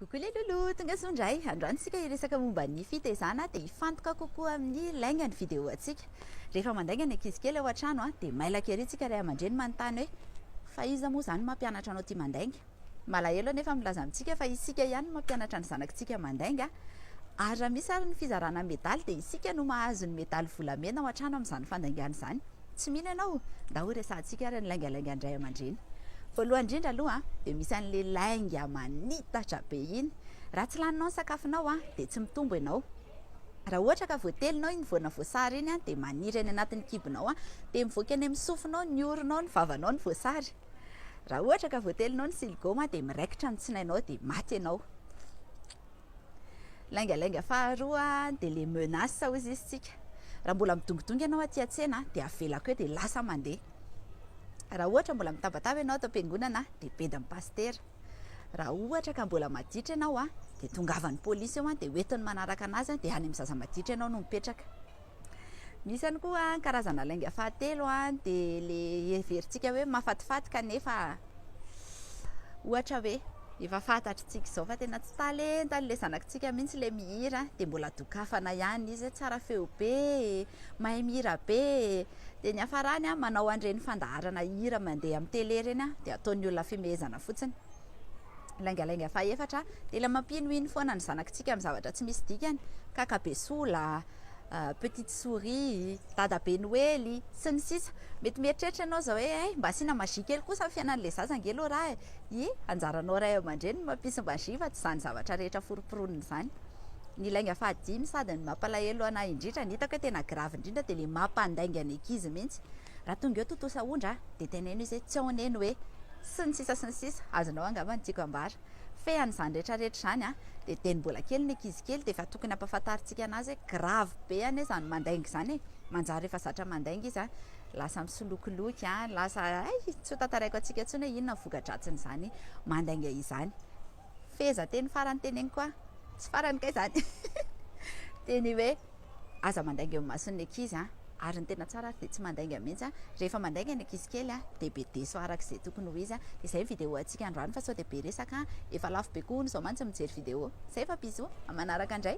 Coucou les loulous, tonga soa indray. Androany isika hiresaka momba ny fitezana dia hifantoka kokoa amin'ny lainga ny vidéo antsika. Rehefa mandainga ny ankizy kely ao an-trano dia mailaka ery isika ray aman-dreny manontany hoe fa iza moa izany mampianatra anao tia mandainga? Malahelo anefa milaza amintsika fa isika ihany no mampianatra ny zanakintsika mandainga ary raha misy ary ny fizarana medaly dia isika no mahazo ny medaly volamena ao an-trano amin'izany fandaingana izany. Tsy mino ianao, ndao horesahantsika ary ny laingalaingan-dray aman-dreny. Voalohany indrindra aloha dia misy an'le lainga manitatra be iny. Raha tsy laninao ny sakafonao dia tsy mitombo ianao. Raha ohatra ka voatelinao iny voana voasary iny dia maniry any anatin'ny kibonao dia mivoaka any amin'ny sofinao, ny oronao, ny vavanao ny voasary. Raha ohatra ka voatelinao ny siligoma dia miraikitra ny tsinainao dia maty ianao. Laingalainga faharoa dia le menace hozy izy tsika raha mbola midongidongy ianao aty an-tsena dia avelako eo dia lasa mandeha raha ohatra mbola mitabataba ianao ato am-piangonana dia bedin'ny pasitera raha ohatra ka mbola maditra ianao dia tongavan'ny polisy eo dia hoentiny manaraka anazy dia any amin'ny zaza maditra ianao no mipetraka Misy ihany koa ny karazana lainga fahatelo dia ilay heverintsika hoe mahafatifaty kanefa ohatra hoe efa fantatritsika izao fa tena tsy talenta an'ilay zanakitsika mihitsy ilay mihira dia mbola dokafana ihany izy hoe tsara feo be e, mahay mihira be e. Dia ny hafarany manao an'ireny fandaharana hira mandeha amin'ny tele ireny dia ataon'ny olona fihomehezana fotsiny. Laingalainga fahefatra dia ilay mampinoino foana ny zanakitsika amin'ny zavatra tsy misy dikany ka kabesola, petite souris, dadabe noely, sy ny sisa Mety mieritreritra ianao izao hoe hay, mba asiana magie kely kosa ny fiainan'ilay zaza ange aloha raha e! Ie, anjaranao ray aman-dreny ny mampisy magie fa tsy izany zavatra rehetra foroporonina izany. Ny lainga fahadimy sady ny mampalahelo an'ahy indrindra, ny hitako hoe tena grave indrindra dia ilay mampandainga ny ankizy mihitsy, raha tonga eo tontosa ondry an, dia teneno izy hoe tsy ao anie ny hoe, sy ny sisa sy ny sisa Azonao angamba ny tiako ambara. Fean'izany rehetra rehetra izany an! Dia teny mbola kely ny ankizy kely dia efa tokony hampafantarintsika anazy hoe grave be anie izany mandainga izany e! Manjary efa zatra mandainga izy an! Lasa misolokoloky an! Lasa hay! Tsy ho tantaraiko antsika intsony hoe inona ny voka-dratsin'izany mandainga izany. Fehezanteny farany teneniko an! Tsy farany kay izany! Dia ny hoe. Aza mandainga eo imason'ny ankizy a! Ary ny tena tsara ary dia tsy mandainga mihitsy a! Rehefa mandainga ny ankizy kely a! Dia be deso araka izay tokony ho izy a! Dia izay ny vidéo antsika androany fa sao dia be resaka a! Efa lafo be koa hono izao mantsy ny mijery vidéo! Zay fa bisous! Amin'ny manaraka indray!